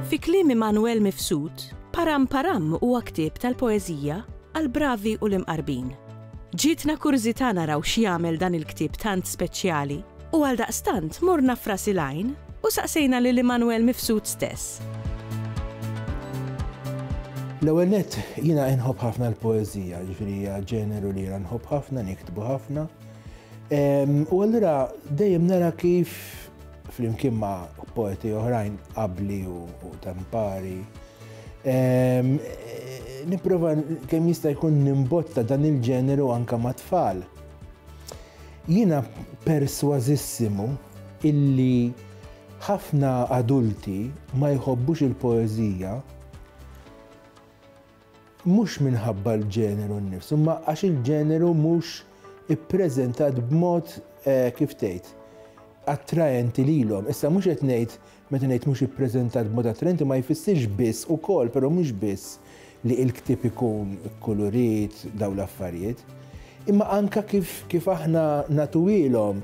Fi kliem Immanuel Mifsud, Param Param huwa ktieb tal-poeżija għall-bravi u l-imqarbin. Ġietna kurżità naraw x'jagħmel dan il-ktieb tant speċjali U għaldaqstant morna f'Ras il-Għajn u saqsejna lil Immanuel Mifsud stess. L-ewwel nett, jiena inħobb ħafna l-poeżija, jiġifieri hija ġeneru li jiena nħobb ħafna, niktbu ħafna. U allura dejjem nara kif flimkien ma' poeti oħrajn qabli u tempari. Nipprova kemm jista' jkun nimbotta dan il-ġeneru anke ma' tfal. Jiena persważissimu illi ħafna adulti ma jħobbux il-poeżija mhux minħabba l-ġeneru nnifsu imma għax il-ġeneru mhux ippreżentat b'mod, kif tgħid, attraenti lilhom. Issa mhux qed ngħid Meta ngħid mhux ippreżentat b'mod attraenti ma jfissirx biss, ukoll, però mhux biss, li l-ktieb ikun kulurit, dawn l-affarijiet, imma anke kif kif aħna nagħtuhielhom,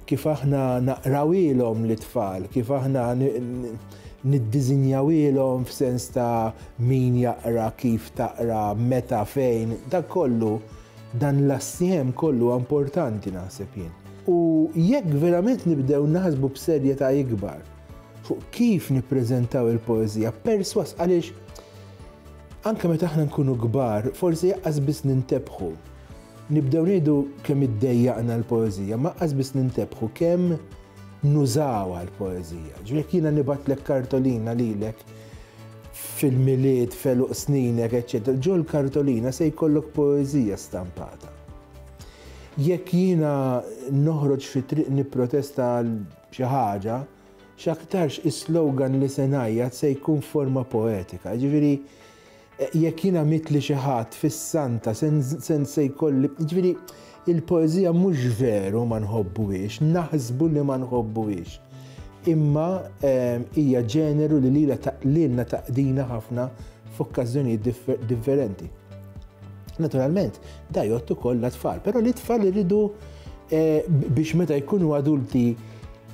kif aħna naqrawhielhom lit-tfal, kif aħna niddiżinjawhielhom f'sens ta' min jaqra, kif taqra, meta, fejn, dak kollu. Dan l-assiem kollu huwa importanti naħseb jien. U jekk verament nibdew naħsbu b'serjetà ikbar fuq kif nippreżentaw il-poeżija, perswas għaliex anke meta aħna nkunu kbar, forsi jaqqas biss nintebħu. Nibdew ngħidu kemm iddejjaqna l-poeżija, ma qas biss nintebħu kemm nużawha l-poeżija. Ġifiek jiena nibatlek kartolina lilek fil-Milied, f'għeluq sninek, eċċetera, ġol-kartolina se jkollok poeżija stampata. Jekk jiena noħroġ fit-triq nipprotesta għal xi ħaġa, x'aktarx is-slogan li se ngħajjat se jkun forma poetika. Ġifieri, jekk jiena mitli xi ħadd fis-Santa se jkolli, ġifieri Il-poeżija mhux veru ma nħobbuhiex, naħsbu li ma nħobbuhiex. Imma ehm, hija ġeneru li lila lilna taqdina ħafna f'okkażjonijiet differenti. Naturalment, da jottu kollha tfal, però li tfal iridu eh, biex meta jkunu adulti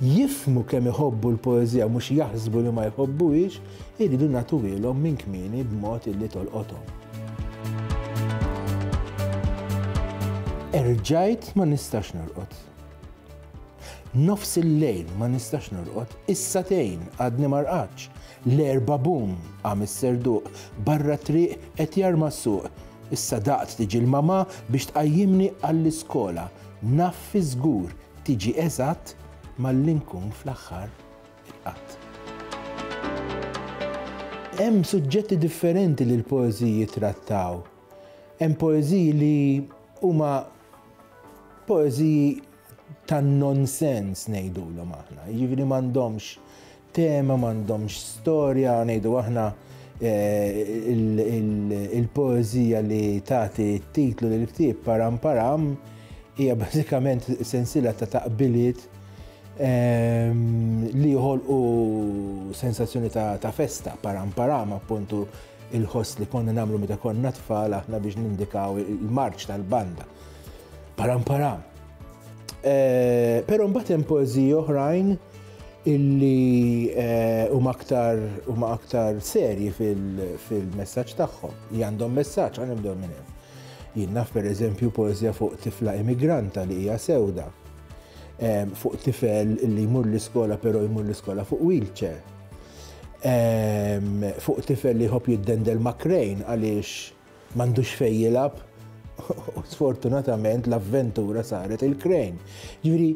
jifhmu kemm iħobbu l-poeżija u mhux jaħsbu li ma jħobbuhiex, irridu nagħtuhielhom minn kmieni b'mod illi tolqothom. Erġajt ma nistax norqod. Nofs il-lejl ma nistax norqod, issa tejn għadni ma rqadx. L-erba bum qam is-serduq, barra t-triq qed jarma s-suq. Issa daqt tiġi l-mamà biex tqajjimni għall-iskola. Naf fi żgur tiġi eżatt malli nkun fl-aħħar il-qatt. Hemm suġġetti differenti li l-poeżiji jittrattaw. Hemm poeżiji li huma poeżiji tan-nonsens ngħidulhom aħna, jiġifieri m'għandhomx Tema m'għandhomx storja, ngħidu aħna il-poeżija li tagħti t-titlu lil ktieb Param Param hija bażikament sensiela ta' taqbiliet li joħolqu sensazzjoni ta' festa, param param appuntu il-ħoss li konna nagħmlu meta konna tfal aħna biex nindikaw il-marċ tal-banda. Param param. Però mbagħad hemm poeżiji oħrajn illi huma aktar huma aktar serji fil-messaġġ tagħhom, li għandhom messaġġ għal nibdew minn hemm. Jien naf pereżempju poeżja fuq tifla immigranta li hija sewda, ehm, fuq tifel li jmur l-iskola però jmur l-iskola fuq wheelchair, ehm, fuq tifel li jħobb jiddendel makrejn għaliex M'għandux fejn jilgħab u sfortunatament l-avventura saret il-krejn. Ġifieri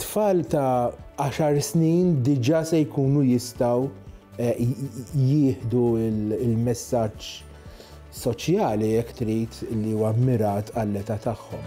tfal ta' 10 snin diġà se jkunu jistgħu eh, jieħdu il-messaġġ soċjali jekk trid li huwa mirat għall-età tagħhom.